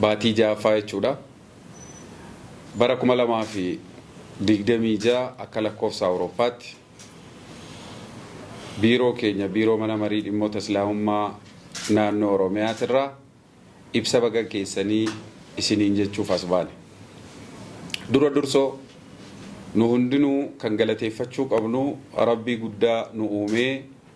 baatii 6ffaa jechuudha. Bara 2026 akka lakkoofsa Awurooppaatti biiroo keenya biiroo mana marii dhimmoota islaamummaa naannoo Oromiyaatirraa ibsa baga geessanii isiniin jechuuf as baane. Dura dursoo nu hundinuu kan galateeffachuu qabnu Rabbii guddaa nu uumee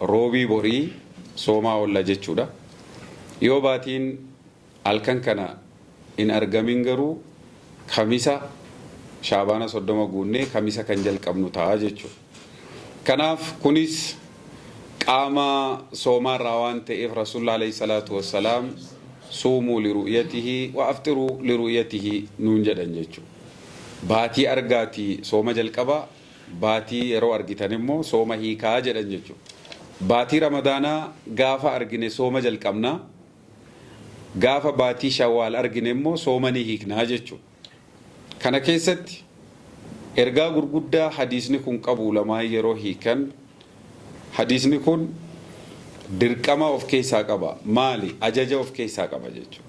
Roobii borii soomaa oolla jechuudha. Yoo baatiin halkan kana hin argamin garuu Kamisa Shaabaana 30 guunnee Kamisa kan jalqabnu ta'a jechuudha. Kanaaf kunis qaama soomaa irraa waan ta'eef Rasuulli Aleyh Salaatu Wassalaam Suumuu liru'yatihi wa afxiruu liru'yatihi nuun jedhan jechuudha. Baatii argaatii sooma jalqabaa. Baatii yeroo argitan immoo sooma hiikaa jedhan jechuudha. Baatii Ramadaanaa gaafa argine sooma jalqabna. Gaafa baatii Shawwaal argine immoo sooma ni hiikna jechuudha. Kana keessatti ergaa gurguddaa hadiisni kun qabu ulamaan yeroo hiikan hadiisni kun dirqama of keessaa qaba. Maali? Ajaja of keessaa qaba jechuudha.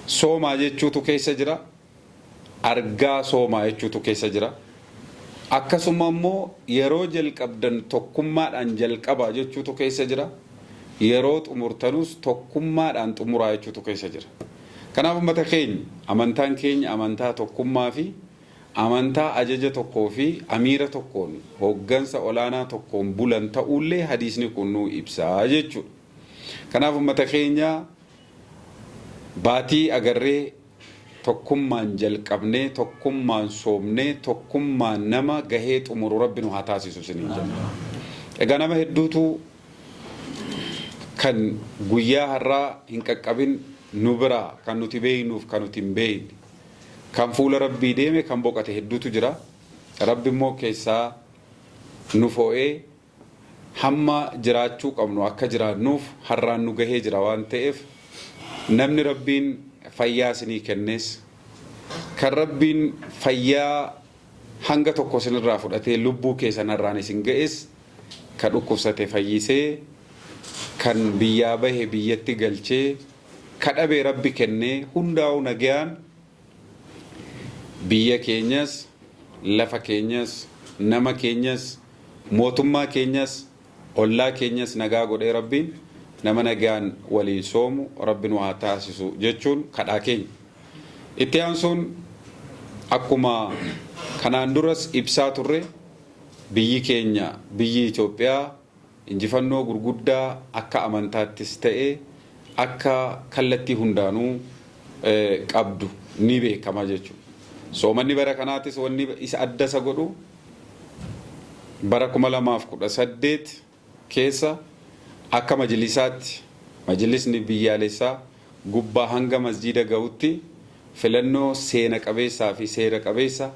Soomaa jechuutu keessa jira. argaa soomaa jechuutu keessa jira. Akkasuma immoo yeroo jalqabdan tokkummaadhaan jalqabaa jechuutu keessa jira. Yeroo xumurtanus tokkummaadhaan xumuraa jechuutu keessa jira. Kanaaf ummata keenya amantaan keenya amantaa tokkummaa fi amantaa ajaja tokkoo fi amiira tokkoon hooggansa olaanaa tokkoon bulan ta'uullee hadiisni kun nuu ibsa jechuudha. Kanaaf ummata keenya baatii agarree Tokkummaan jalqabnee tokkummaan soomnee tokkummaan nama gahee xumuru rabbi nu haa taasisu isiniin jenna. Egaa nama hedduutu kan guyyaa har'aa hin qaqqabin nu biraa kan nuti beeknuuf kan nuti hin beekne kan fuula rabbii deeme kan boqate hedduutu jira. Rabbi immoo keessaa nu foo'ee Hamma jiraachuu qabnu akka jiraannuuf har'aan nu gahee jira waan ta'eef namni Rabbiin fayyaa isinii kennees, kan Rabbiin fayyaa hanga tokko isinirraa fudhatee lubbuu keessan har'aan isin ga'es, ka dhukkubsate fayyisee, kan biyyaa bahe biyyatti galchee, ka dhabe Rabbi kennee hundaa'uu nagayaan Biyya keenyas, lafa keenyas, nama keenyas, mootummaa keenyas, ollaa keenyas nagaa godhee Rabbiin nama nagaan waliin soomu Rabbi nu haa taasisu jechuun kadhaa keenya. Itti aansuun akkuma kanaan duras ibsaa turre biyyi keenya biyyi Itoophiyaa Injifannoo gurguddaa akka amantaattis ta'e akka kallattii hundaanuu qabdu ni beekama jechuudha. Soomanni bara kanaatis wanni isa adda isa godhu bara 2018 keessa akka majlisaatti majlisni biyyaalessaa gubbaa hanga masjiida gahutti filannoo seena qabeessaa fi seera qabeessa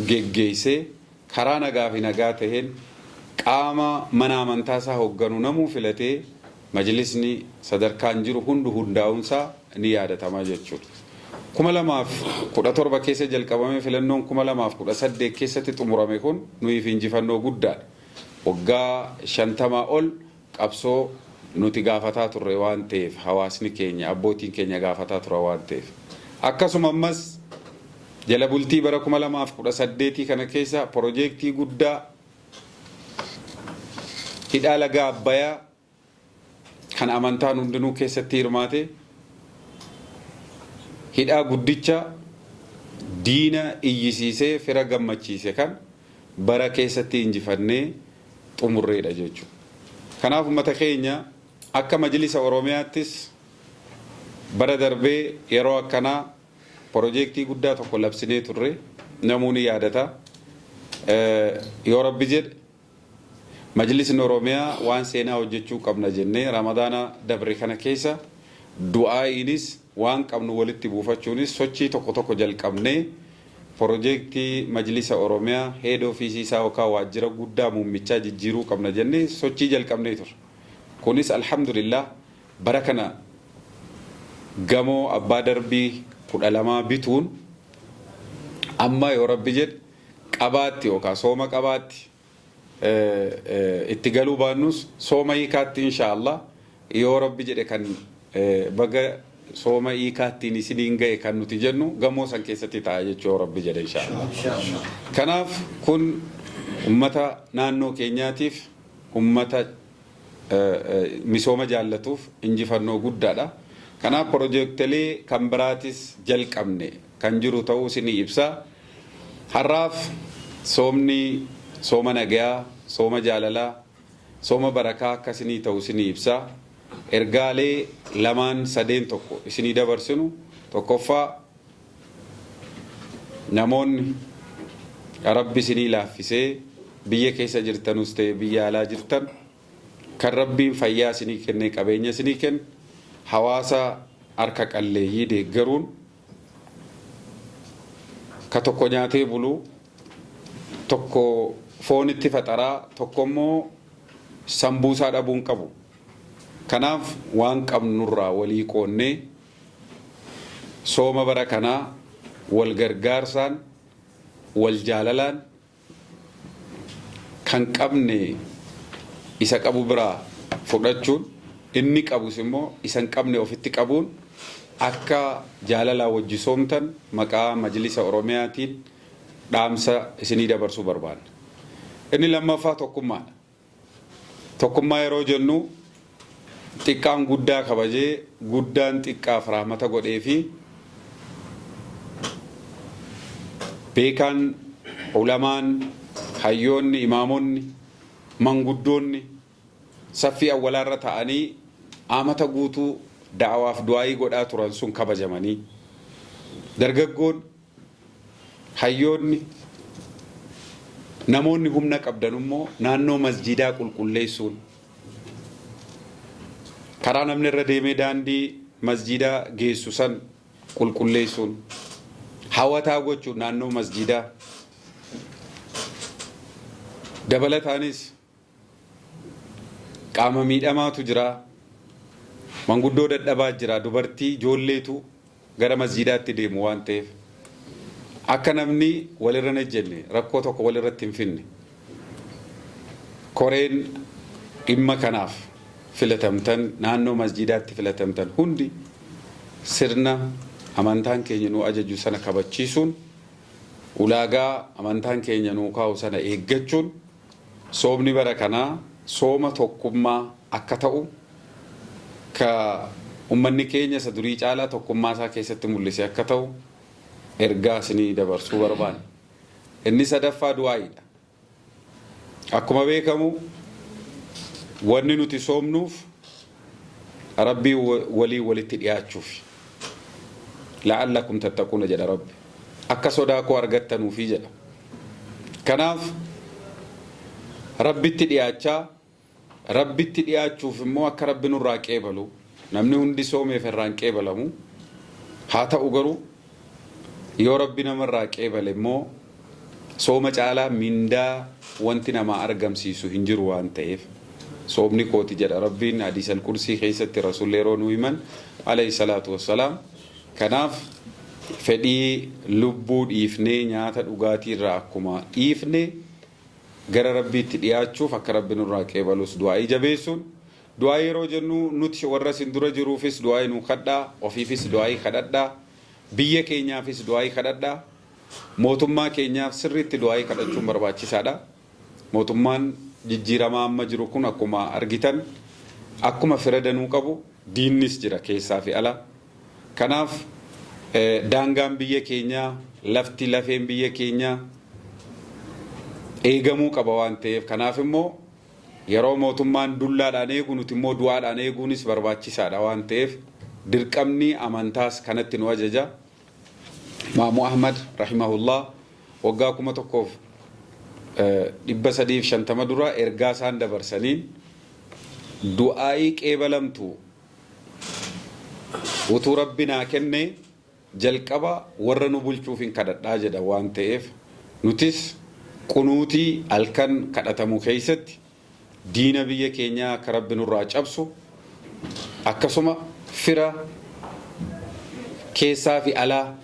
geggeessee karaa nagaa fi nagaa taheen qaama mana amantaa isaa hogganu namuu filatee majlisni sadarkaan jiru hundu hundaa'uun isaa ni yaadatama jechuu dha. 2017 keessa jalqabamee filannoon 2018 keessatti xumurame kun nuyiif injifannoo guddaa dha. Waggaa 50 ol qabsoo nuti gaafataa turre waan ta'eef, hawaasni keenya, abbootiin keenya gaafataa turan waan ta'eef. Akkasuma ammas jala bultii bara 2018 kana keessa pirojeektii guddaa hidhaa laga Abbayaa kan amantaan hundinuu keessatti hirmaate, hidhaa guddicha diina iyyisiisee fira gammachiise kan bara keessatti injifannee xumurreedha jechuudha. Kanaaf ummata keenya akka majlisa Oromiyaattis bara darbee yeroo akkanaa pirojeektii guddaa tokko labsinee turre namuu ni yaadata. Yoo Rabbi jedhe majlisni Oromiyaa waan seenaa hojjechuu qabna jennee Ramadaana dabre kana keessa du'aa'iinis waan qabnu walitti buufachuunis sochii tokko tokko jalqabnee Porojeektii Majlisa Oromiyaa Head Office isaa yookaan Waajjira Guddaa Muummichaa jijjiiruu qabna jennee sochii jalqabnee turre. Kunis Alhamdulillaah bara kana gamoo abbaa darbii 12 bituun amma yoo Rabbi jedhe Qabaatti yookaan Sooma Qabaatti, itti galuu baannus sooma hiikaatti inshaa Allah yoo rabbi jedhe kan baga sooma hiikaattiin isiniin gahe kan nuti jennu gamoo san keessatti ta'a jechuu yoo rabbi jedhe inshaa Allah. Kanaaf kun ummata naannoo keenyaatiif ummata misooma jaallatuuf injifannoo guddaadha. Kanaaf pirojektilee kan biraatis jalqabne. kan jiru ta'uus ni ibsa. Har'aaf soomni sooma nagayaa, sooma jaalalaa, sooma barakaa akka isinii ta'u isinii ibsa. Ergaalee lamaan sadeen tokko isinii dabarsinu tokkoffaa namoonni Rabbi isinii laaffisee biyya keessa jirtanus ta'e biyya alaa jirtan kan Rabbiin fayyaa isinii kennee qabeenya isinii kenne hawaasa harka qalleeyyii deeggaruun Ka tokko nyaatee bulu, tokko foonitti faxara, tokko immoo sambuusaa dhabuu hin qabu. Kanaaf waan qabnurraa walii qoonnee sooma bara kanaa wal gargaarsaan, wal jaalalaan, kan qabne isa qabu biraa fudhachuun, inni qabus immoo isa hin qabne ofitti qabuun akka jaalalaan wajjisoomtan maqaa Majlisa Oromiyaatiin dhaamsa isinii dabarsuu barbaanna. Inni lammaffaa tokkummaadha. Tokkummaa yeroo jennu xiqqaan guddaa kabajee, guddaan xiqqaaf rahmata godheefi beekaan, ulamaan, hayyoonni, imaamonni, manguddoonni saffii awwalaarra ta'anii amata guutuu da'awaaf du'aa'ii godhaa turan sun kabajamanii, dargaggoon, Hayyoonni, Namoonni humna qabdan immoo naannoo masjiidaa qulqulleessuun, karaa namni irra deemee daandii masjiida geessu san qulqulleessuun, hawataa gochuun naannoo masjiidaa, dabalataanis, Qaama miidhamaatu jira, manguddoo dadhabaa jira, dubartii, ijoolleetu gara masjiidaatti deemu waan ta'eef akka namni walirra hin ejjenne, rakkoo tokko walirratti hin fidne koreen dhimma kanaaf filatamtan naannoo masjiidaatti filatamtan hundi sirna amantaan keenya nu ajaju sana kabachiisuun ulaagaa amantaan keenya nuu kaa'u sana eeggachuun Soomni bara kanaa sooma tokkummaa akka ta'u ka ummanni keenya isa durii caalaa tokkummaa isaa keessatti mul'ise akka ta'u ergaa isinii dabarsuu barbaanna. Inni sadaffaa du'aa'iidha. Akkuma beekamu wanni nuti soomnuuf Rabbii waliin walitti dhiyaachuufi. La'allakum tattaquuna jedha Rabbi. Akka sodaa koo argattanuufi jedha. Kanaaf Rabbitti dhiyaachaa, Rabbitti dhiyaachuuf immoo akka Rabbi nurraa qeebalu, namni hundi soomeef irraa hin qeebalamu. Haa ta'u garuu yoo Rabbi nama irraa qeebale immoo, Sooma caalaa mindaa wanti namaa argamsiisu hin jiru waan ta'eef. Soomni kooti jedha Rabbiin Hadiisal Qudsii keessatti Rasuulli yeroo nuu himan, Aleyh salaatu wassalaam. Kanaaf fedhii lubbuu dhiifnee nyaata dhugaatii irraa akkuma dhiifne gara Rabbiitti dhiyaachuuf akka Rabbi nurraa qeebalus du'aa'ii jabeessuun, du'aa'ii yeroo jennu nuti warra isin dura jiruufis du'aa'ii nuu kadhaa, ofiifis du'aa'ii kadhadhaa, biyya keenyaafis du'aa'ii kadhadhaa. Mootummaa keenyaaf sirriitti du'aa'ii kadhachuun barbaachisaadha. Mootummaan jijjiiramaa amma jiru kun akkuma argitan akkuma fira danuu qabu diinnis jira keessaa fi ala. Kanaaf daangaan biyya keenyaa, lafti, lafeen biyya keenyaa eegamuu qaba waan ta'eef kanaaf immoo yeroo mootummaan dullaadhaan eegu nuti immoo du'aadhaan eeguunis barbaachisaadha waan ta'eef dirqamni amantaas kanatti nu ajaja. Imaamu Ahmad, rahimahullah, waggaa 1350 dura ergaa isaan dabarsaniin du'aa'ii qeebalamtu utuu Rabbi naa kennee jalqaba warra nu bulchuufin kadhadha jedhan waan ta'eef nutis qunuutii halkan kadhatamu keessatti Diina biyya keenyaa akka Rabbi nurraa cabsu akkasuma fira keessaa fi alaa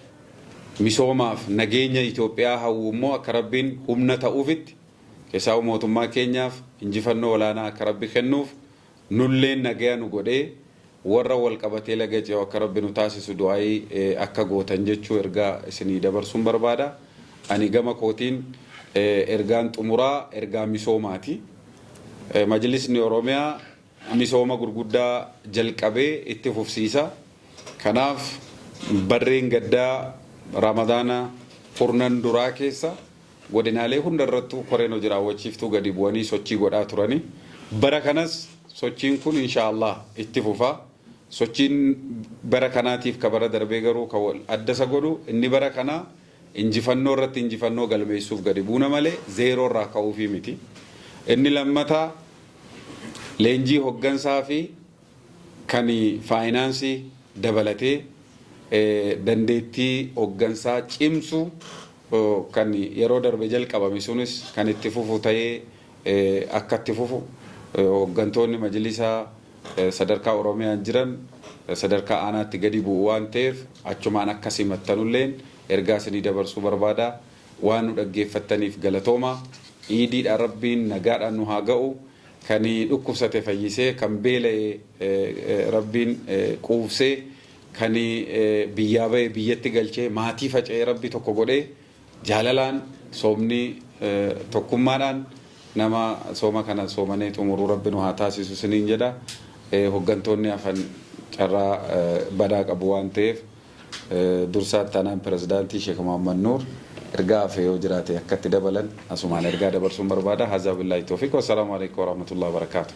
misoomaaf nageenya Itoophiyaa hawwu immoo akka Rabbiin humna ta'uufitti keessaahuu mootummaa keenyaaf injifannoo olaanaa akka Rabbi kennuuf nulleen nagaya nu godhee Worra wal qabatee laga ce'u akka Rabbi nu taasisu du'aa'ii akka gootan jechuu ergaa isinii dabarsuun barbaada. Ani gama kootiin ergaan xumuraa ergaa misoomaati. Majlisni Oromiyaa misooma gurguddaa jalqabe itti fufsiisa. Kanaaf barreen gaddaa Ramadaana kurnan duraa keessa Godinaalee hundarrattuu koreen hoji raawwachiiftuu gadi bu'anii sochii godhaa turani. Bara kanas sochiin kun inshaa Allaah itti fufa. Sochiin bara kanaatiif ka bara darbee garuu ka wal adda isa godhu inni bara kanaa injifannoo irratti injifannoo galmeessuuf gadi buuna malee zeeroo irraa ka'uufii miti. Inni lammataa leenjii hoggansaa fi kan faayinaansii dabalatee dandeettii hoggansaa cimsu kan yeroo darbe jalqabame sunis kan itti fufu ta'ee akka itti fufu hoggantoonni majlisaa sadarkaa Oromiyaan jiran sadarkaa aanaatti gadi bu'u waan ta'eef achumaan akka simattanulleen ergaa isinii dabarsuu barbaada. Waan nu dhaggeeffattaniif galatooma. Iidiidha Rabbiin nagaadhaan nu haa ga'u. Kan dhukkubsate fayyisee, kan beela'e Rabbiin quubsee, Kani biyyaa bahe biyyatti galchee maatii faca'ee rabbi tokko godhee jaalalaan soomni tokkummaadhaan nama sooma kana soomanee xumuruu rabbi nu haa taasisu siniin jedha hoggantoonni hafan carraa badaa qabu waan ta'eef dursaa itti aanaan pirezidaantii sheek Muhammad Nuur ergaa hafe yoo jiraate akka itti dabalan asumaan ergaa dabarsuun barbaada haazaa billaahi toofiq wassalaamu aleykum warahmatullahi wabarakaatu.